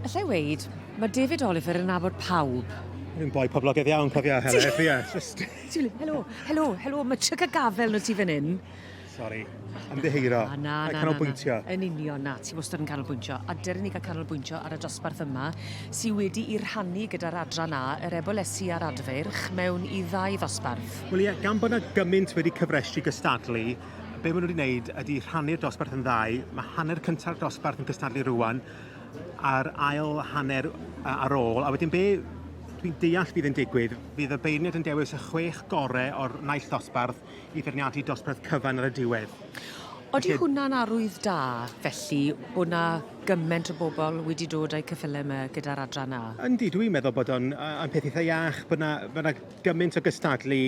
Alla i weud, mae David Oliver yn nabod pawb. Yn boi poblogaidd iawn, cofia, helo, efe, ie. Just... Helo, helo, helo, mae tryc a gafel na ti fan hyn. Sorry, ymddeheiro. Na, na, na, canolbwyntio. Na, na. Yn union, na, ti wastad yn canolbwyntio. A dyryn ni gael canolbwyntio ar y dosbarth yma, sy'n wedi i rhannu gyda'r adran A, yr ebolesu a'r adfeirch, mewn i ddau ddosbarth. Wel ie, gan bod yna gymaint wedi cyfrestu gystadlu, be maen nhw wedi wneud ydy rhannu'r dosbarth yn ddau. Mae hanner cynta'r dosbarth yn cystadlu rwan, a'r ail hanner ar ôl. A wedyn be dwi'n deall bydd yn digwydd, bydd y beirniad yn dewis y chwech gorau o'r naill dosbarth i feirniadu dosbarth cyfan ar y diwedd. Oeddi Felly... hwnna'n arwydd da, felly, bod na gyment o bobl wedi dod â'u cyffylau yma gyda'r adran A? Yndi, dwi'n meddwl bod o'n peth eitha iach, bod na, bod na gymaint o gystadlu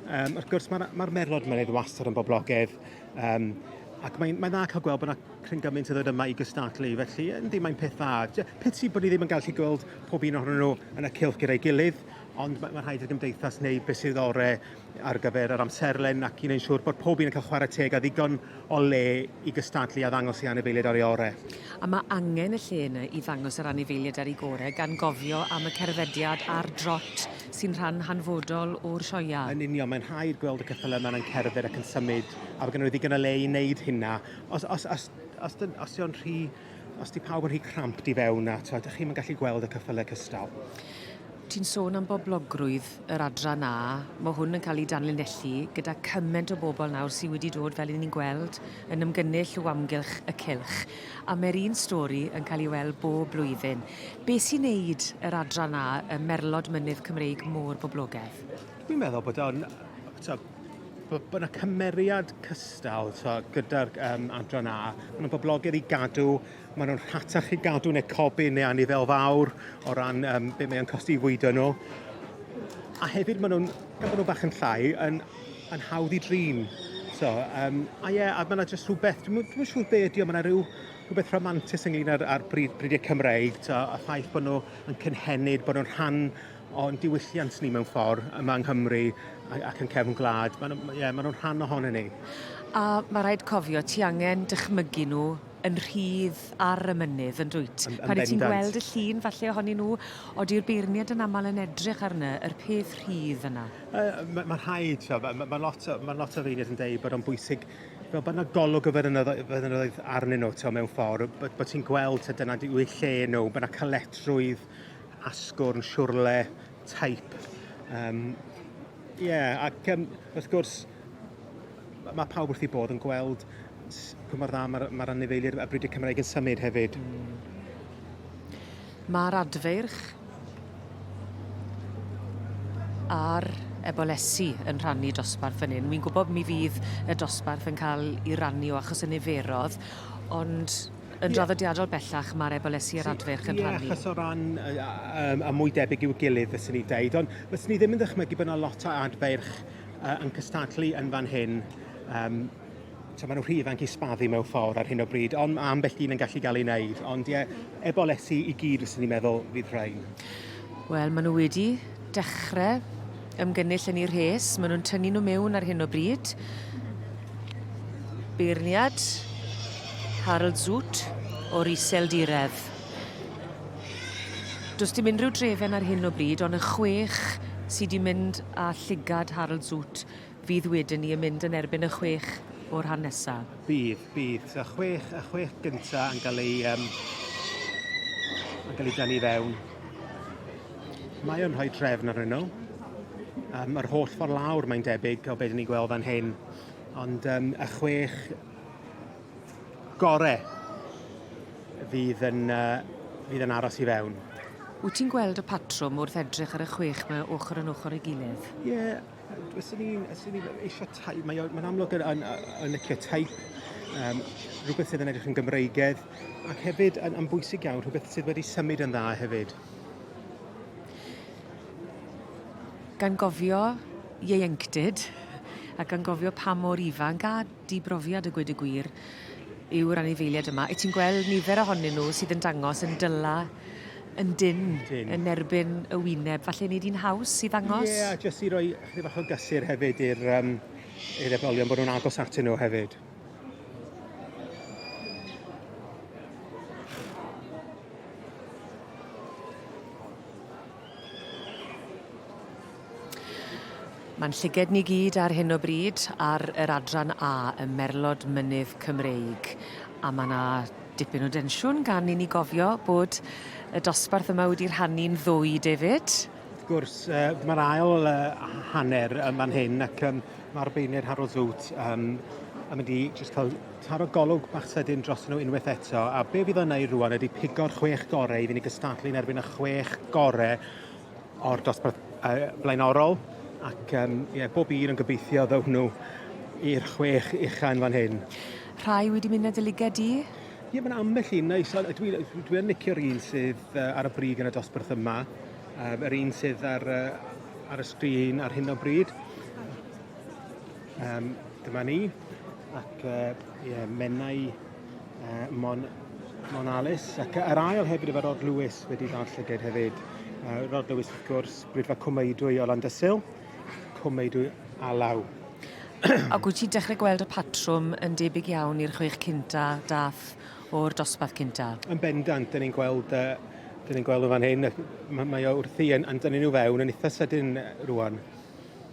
Um, wrth gwrs, mae'r ma merlod mynydd wastad yn boblogedd, um, ac mae'n mae dda cael gweld bod yna cryn gymaint yn dod yma i gystadlu, felly yndi, mae'n peth dda. Piti bod ni ddim yn gallu gweld pob un ohonyn nhw yn y cilch gyda'i gilydd, ond mae, mae rhaid i'r gymdeithas neu beth sydd ore ar gyfer yr amserlen ac i'n ein siŵr bod pob un yn cael chwarae teg a ddigon o le i gystadlu a ddangos i anifeiliaid ar ei ore. A mae angen y lle yna i ddangos yr anifeiliaid ar ei gore gan gofio am y cerddediad a'r drot sy'n rhan hanfodol o'r sioeau. Yn union, mae'n rhaid gweld y ceffylau yma yn cerdded ac yn symud, a bod gennyn nhw ddigon o le i wneud hynna. Os, os, os, os, os, os yw'n rhy... Os di pawb yn rhy cramp di fewn a twa, ydych chi'n yn gallu gweld y ceffylau cystal? Ti'n sôn am boblogrwydd yr adran na, mae hwn yn cael ei danlinellu gyda cymaint o bobl nawr sydd wedi dod, fel ni'n gweld, yn ymgynnull o amgylch y cylch. A mae'r un stori yn cael ei weld bob blwyddyn. Be sy'n neud yr adran 'na ym merlod mynydd Cymreig mor boblogedd? Fi'n meddwl bod o'n t'od bo- bo' 'na cymeriad cystal t'o' gyda'r yym adran 'na. Ma' nw'n boblogedd i gadw ma' nw'n rhatach i gadw ne' codi ne' anifail fawr o ran yym be' mae o'n costi i fwydo nw. A hefyd ma' nw'n gan bo' nw bach yn llai yn yn hawdd i drin. So yym a ie a ma' 'na jyst rhwbeth dwi'm yn dwi'm yn siŵr be' ydi o ma' 'na ryw rhywbeth rhamantus ynglyn â'r, ar bryd, bridiau Cymreig, to, a ffaith bod nhw yn cynhenid, bod nhw'n rhan o'n diwylliant ni mewn ffordd yma yng Nghymru ac yn cefn gwlad. Maen nhw, yeah, maen nhw'n rhan ohonyn ni. A mae rhaid cofio, ti angen dychmygu nhw yn rhydd ar y mynydd yn dwyt. Yn, yn Pan ti'n gweld y llun falle ohonyn nhw, odi'r beirniad yn aml yn edrych arno, yr peth rhydd yna? Uh, mae ma rhaid, mae ma, ma lot, o, ma lot o feirniad yn dweud bod o'n bwysig fel bod yna golwg o feddynoedd arnyn nhw, ti'n mewn ffordd, bod, bod ti'n gweld ti'n dyna yw eu lle nhw, bod yna caledrwydd, asgwrn, siwrle, taip. Um, Ie, yeah, ac um, wrth gwrs, mae pawb wrth i bod yn gweld cymryd dda mae'r ma anifeiliaid a bryd y Cymraeg yn symud hefyd. Mm. Mae'r adfeirch a'r ebolesi yn rhannu dosbarth fan hyn. Wi'n gwybod mi fydd y dosbarth yn cael ei rannu o achos y niferodd, ond yn draddodiadol bellach mae'r ebolesi a'r adfeirch yn rhannu. Ie, achos o ran y, um, a mwy debyg i'w gilydd, fyswn i'n deud, ond fyswn i ddim yn ddychmygu bod yna lot o adfeirch uh, yn cystadlu yn fan hyn um, so maen nhw'n rhy ifanc i sbaddu mewn ffordd ar hyn o bryd, ond mae ambell un yn gallu gael ei wneud. Ond ie, ebolesi i gyd fyswn ni'n meddwl fydd rhain. Wel, maen nhw wedi dechrau ymgynnull yn ei rhes. Maen nhw'n tynnu nhw mewn ar hyn o bryd. Beirniad Harold Zut o'r iseldiredd. Does dim unrhyw drefen ar hyn o bryd, ond y chwech sydd wedi mynd â llygad Harold Zut Fydd wedyn ni yn mynd yn erbyn y chwech o'r rhan nesaf. Bydd, bydd. So, chwech, y chwech gyntaf yn cael ei, um, yn cael ei dynnu fewn. Mae o'n rhoi trefn ar nhw. Um, yr holl ffordd lawr mae'n debyg o beth ni'n gweld fan hyn. Ond um, y chwech gore fydd yn, uh, fydd yn aros i fewn. Wyt ti'n gweld y patrwm wrth edrych ar y chwech mae ochr yn ochr ei gilydd? Ie, yeah, Fyswn i'n eisiau taith, mae'n amlwg yn licio taith, rhywbeth sydd yn edrych yn Gymreigedd, ac hefyd yn bwysig iawn, rhywbeth sydd wedi symud yn dda hefyd. Gan gofio ieuenctid, ac gan gofio pa mor ifanc a Dy brofiad a gweud y gwir yw'r anifeiliaid yma. Wyt ti'n gweld nifer ohonyn nhw sydd yn dangos yn dyla yn dyn, dyn. yn erbyn y wyneb. Falle wneud hi'n haws i ddangos? Ie, yeah, jyst i roi chydig bach o gysur hefyd i'r um, i'r etholion bod nhw'n agos atyn nhw hefyd. Mae'n llyged ni gyd ar hyn o bryd ar yr adran A ym Merlod Mynydd Cymreig a mae yna dipyn o densiwn gan i ni gofio bod y dosbarth yma wedi rhannu'n ddwy, David? Wrth gwrs, uh, mae'r ail uh, hanner yma'n hyn ac um, mae'r beunir Harold Zoot um, yn mynd i just cael Taro golwg bach sydyn drostyn nhw unwaith eto, a be fydd o'n wneud rwan ydy pigo'r chwech gorau i fynd i gystadlu yn erbyn y chwech gorau o'r dosbarth uh, blaenorol, ac um, yeah, bob un yn gobeithio ddown nhw i'r chwech ucha yn fan hyn. Rhai wedi mynd na dy liged di? Ie, mae'n ambell un neis. Dwi, dwi yn licio'r un sydd ar y brig yn y dosbarth yma. Um, yr un sydd ar, uh, ar y sgrin ar hyn o bryd. Um, dyma ni, ac uh, yeah, mennau uh, Mon, Mon Alice, ac yr ail hefyd efo Rod Lewis wedi ddod llyged hefyd. Uh, Rod Lewis, wrth gwrs, brydfa cwmeidwy o Landysil, cwmeidwy alaw. Ac wyt ti'n dechrau gweld y patrwm yn debyg iawn i'r chwech cynta dath o'r dosbarth cynta? Yn bendant, dyn ni'n gweld uh, Dyn ni'n gweld nhw fan hyn, mae, mae o wrthi yn, yn dynnu nhw fewn yn eitha sydyn rwan.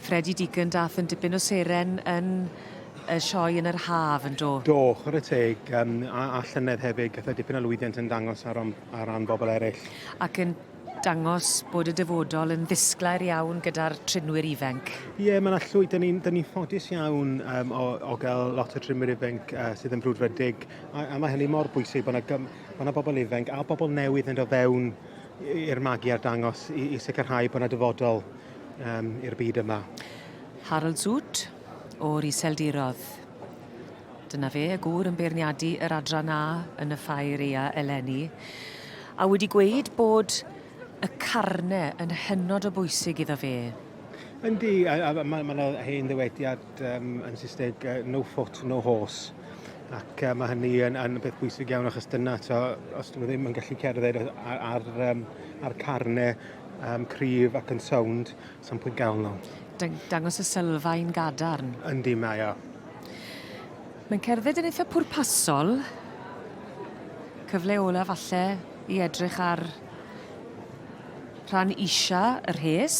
Freddie Deacon, daeth yn dipyn o seren yn y sioe yn yr haf, yn do? Do, chwarae teg, um, a, a llynedd hefyd, gath e dipyn o lwyddiant yn dangos ar, ar ran bobl eraill. Ac yn dangos bod y dyfodol yn ddisglair iawn gyda'r trinwyr ifenc. Ie, yeah, mae'n allwy, dyn ni'n ni ffodus iawn um, o, o gael lot o trinwyr ifenc uh, sydd yn frwdfrydig, a, a mae hynny mor bwysig bod yna, bod yna bobl ifenc a bobl newydd yn dod fewn i'r magu ar dangos i, i sicrhau bod yna dyfodol um, i'r byd yma. Harold Zut o'r Iseldirodd. Dyna fe, y gŵr yn beirniadu yr adran A yn y ffair ea eleni, a wedi gweud bod y carne yn hynod o bwysig iddo fe. Yndi, mae yna hen ddywediad um, yn Saesneg, uh, no foot, no horse. Ac uh, mae hynny yn, yn beth bwysig iawn achos dyna, to, os dyn nhw ddim yn gallu cerdded ar, ar, um, ar carne, um, cryf ac yn sownd, sa'n pwynt gael nhw. Dang dangos y sylfaen gadarn. Yndi, mae o. Mae'n cerdded yn eitha pwrpasol. Cyfle ola falle i edrych ar rhan isa yr hes.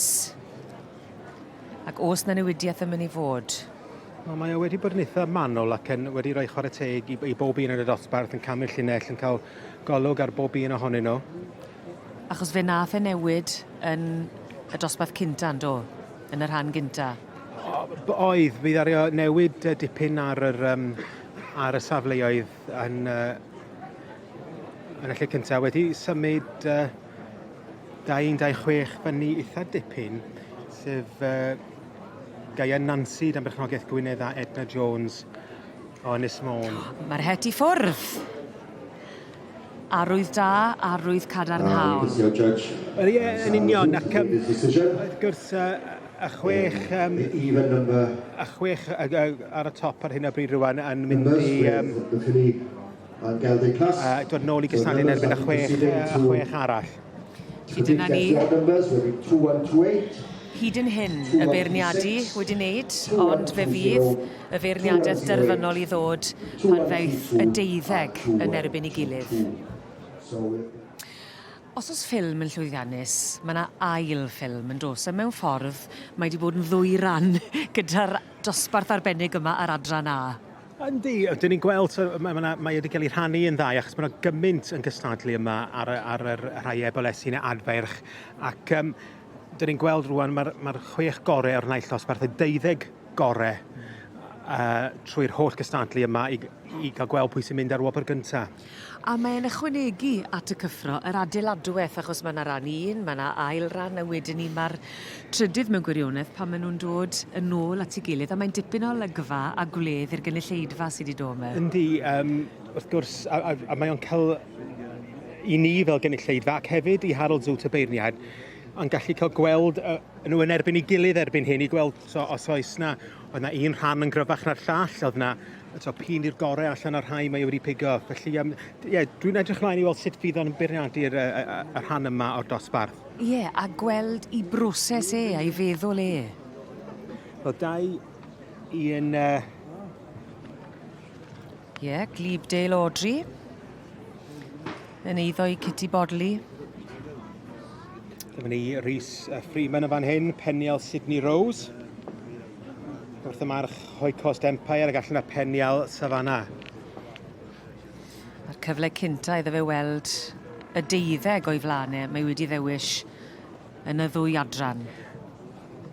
Ac os na newidiaeth yn mynd i fod. Wel, mae o wedi bod yn eitha manwl ac yn wedi rhoi chwarae teg i, i bob un yn y dosbarth yn camu'r llinell yn cael golwg ar bob un ohonyn nhw. Achos fe nath e newid yn y dosbarth cynta yndo? Yn y rhan gynta. O- b- oedd, mi ddaru o newid yy dipyn ar yr yym ar y safleoedd yn yy yn y lle cynta wedi symud yy 216 fyny itha dipyn, sef yy Gaea Nansi dan berchnogaeth Gwynedd a Edna Jones o Ynys Môn. Ma'r het i ffwrdd! Arwydd da, arwydd cadarnhaol. Ie, yn union, ac yym, wrth gwrs, yy, y chwech, yym, y chwech y, y, ar y top ar hyn o bryd rwan yn mynd i... Yym, a dod nôl i gysanu'n erbyn y chwech, y chwech arall. Felly dyna ni. Hyd yn hyn, y beirniadu wedi wneud, ond fe fydd y feirniadaeth derfynol i ddod pan ddaeth y deuddeg yn erbyn ei gilydd. Os oes ffilm yn llwyddiannus, mae yna ail ffilm, yn does? A mewn ffordd, mae wedi bod yn ddwy ran gyda'r dosbarth arbennig yma ar Adran A. Yndi, ydyn ni'n gweld, so, mae, mae, mae wedi cael ei rhannu yn ddau, achos mae yna gymaint yn cystadlu yma ar, ar yr rhai ebolesu neu adferch, ac um, dyn ni'n gweld rwan mae'r mae chwech gorau o'r naill dosbarth, y deuddeg gorau uh, trwy'r holl gystadlu yma i, i gael gweld pwy sy'n mynd ar wobr gyntaf. A mae e'n ychwanegu at y cyffro yr adeiladweth achos ma' 'na ran un ma' 'na ail ran a wedyn 'ny ma'r trydydd mewn gwirionedd pan ma' nw'n dod yn ôl at 'i gilydd a mae'n dipyn o olygfa a gwledd i'r gynulleidfa sy 'di do' 'ma. Yndi yym wrth gwrs a a a mae o'n ca'l i ni fel gynulleidfa ac hefyd i Harold Zoots y beirniaid yn gallu ca'l gweld yy nw yn erbyn 'i gilydd erbyn hyn i gweld So os oes 'na... oedd 'na un rhan yn gryfach na'r llall, oedd 'na t'o' p'un i'r gore allan o'r rhai mae e wedi pigo. Felly yym d- ie dwi'n edrych mlaen i weld sut fydd o'n bwriadu'r yy y y y rhan yma o'r dosbarth. Ie, a gweld 'i broses e a'i feddwl e. Wel da i i un yy... Ie, Glebe Dale Audrey. Yn eiddo i Kitty Bodley. Dyma ni Rhys Freeman yn fan hyn, penial Sydney Rose. Wrth y march Hoi Coast Empire ac allan y penial Savannah. Mae'r cyfle cynta iddo fe weld y deuddeg o'i flaen e. Mae wedi ddewis yn y ddwy adran.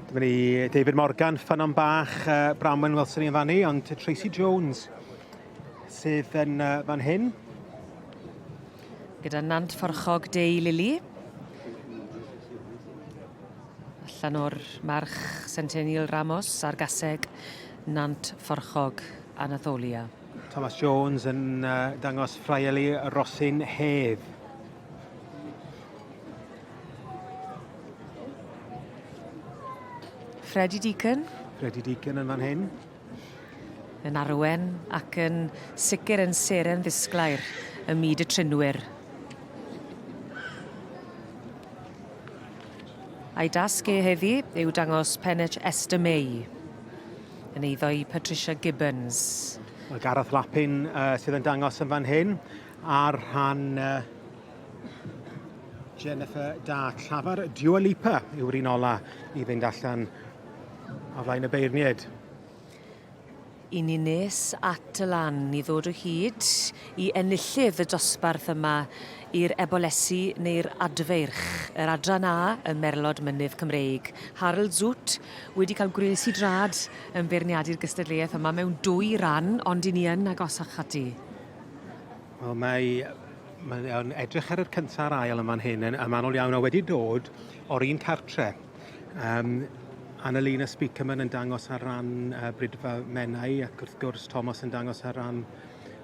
Dyma ni David Morgan, ffynon bach, uh, Bramwen Wilson i'n fannu, ond Tracy Jones Sydd yn uh, fan hyn. Gyda Nant Fforchog Dei Lili. Allan o'r march Centennial Ramos a'r gaseg Nant Fforchog Anatholia. Thomas Jones yn uh, dangos ffraieli Rosin Hedd. Freddie Deacon. Freddie Deacon yn fan hyn. Yn arwen ac yn sicr yn seren ddisglair ym myd y trinwyr. A'i dasg e heddi yw dangos penech Esther May yn eiddo i Patricia Gibbons. Mae Gareth Lapin uh, sydd yn dangos yn fan hyn ar rhan uh, Jennifer Da Llafar. Dua Lipa yw'r un ola i fynd allan ar flaen y beirniaid. I ni nes at y lan i ddod o hyd i enillydd y dosbarth yma i'r Ebolesi neu'r Adfeirch, yr Adran A ym Merlod Mynydd Cymreig. Harl Zut wedi cael gwres i drad yn beirniadu'r gystadleuaeth yma mewn dwy ran, ond i ni yn agosach ati. Wel, mae mae'n edrych ar yr cyntaf a'r ail yn fan hyn yn, yn manol iawn a wedi dod o'r un cartre. Um, Annalena Speakerman yn dangos ar ran uh, Brydfa Menai ac wrth gwrs Thomas yn dangos ar ran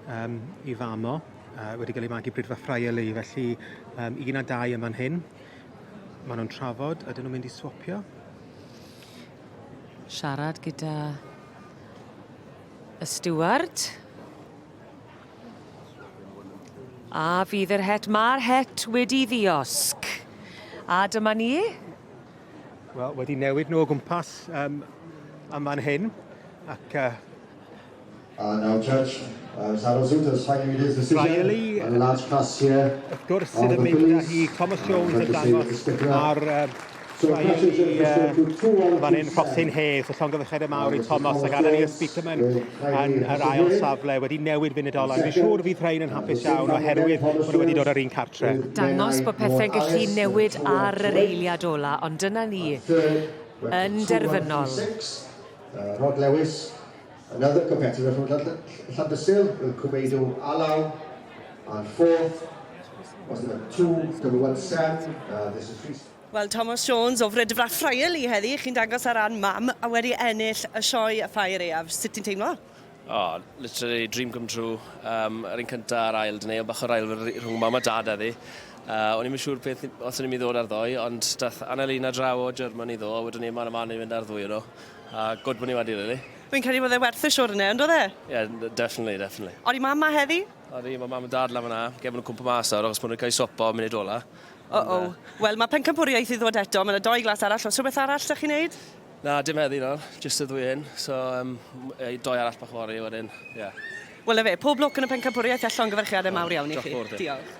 um, i famo uh, wedi cael ei magu Brydfa Friarley felly um, un a dau yma'n hyn maen nhw'n trafod ydyn nhw'n mynd i swapio siarad gyda y steward A fydd yr het, mae'r het wedi ddiosg. A dyma ni. Wel, wedi newid nhw o gwmpas um, am fan hyn, ac uh, Uh, now Judge uh, Sarah Zoot has finally made his decision Riley, on the large class here. Wrth gwrs, sydd yn mynd â hi Thomas Jones yn dangos ar uh, Ryan i uh, fan hyn, Rhosyn Hayes, y llongyfychedd y mawr i Thomas ac Anna Niels Peterman yn yr ail safle wedi newid funudolau. Fi'n siŵr fydd rhain yn hapus iawn oherwydd bod nhw wedi dod ar un cartre. Dangos bod pethau'n gallu newid ar yr eiliad ola, ond dyna ni yn derfynol. Rod Lewis Another competitor from Llandysul will cwmeidu â law and fourth was number two, double one seven, uh, this is Rhys. Wel, Tomos Jones o Fridfrach Ffrael i heddi, chi'n dangos ar ran mam a wedi ennill y sioe a ffair eaf. Sut ti'n teimlo? Oh, literally dream come true. Um, yr un cyntaf a'r ail, dyn ei bach o'r ail rhwng mam a dad heddi. Uh, o'n i'n siŵr peth os o'n i'n mynd i ddod ar ddoe, ond dath Annelina draw o Germany ddo, a wedyn ni yma yma ni'n mynd ar ddwy yno. A good money wedi really. Fi'n credu bod e werth y siwrne, yn doedd e? Yeah, definitely, definitely. Odi mam ma heddi? Odi, mae mam a dad lan fyna. Gem nhw'n cwmpa mas nawr, achos bod nhw'n cael eu sopa o munud ola. O, o. Wel, mae pencampwriaeth i ddod eto. Mae yna doi glas arall. Os rhywbeth arall da chi'n neud? Na, dim heddi nawr. Just y ddwy hyn. So, um, doi arall bach fori wedyn. Yeah. Wel, efe, pob lwc yn y pencampwriaeth allan gyferchiadau mawr iawn i chi. Diolch.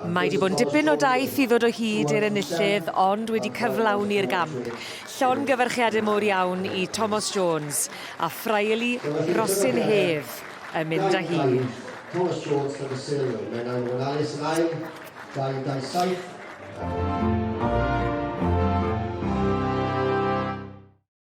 Mae 'di bod yn dipyn o daith i ddod o hyd i'r enillydd ond wedi cyflawni'r gamp. Llongyfarchiade mowr iawn i Tomos Jones a Ffraeli Rosyn Hedd yn mynd â hi. Tomos Jones gyda sylw. Mae nawr yn ofalus yn ail, 227.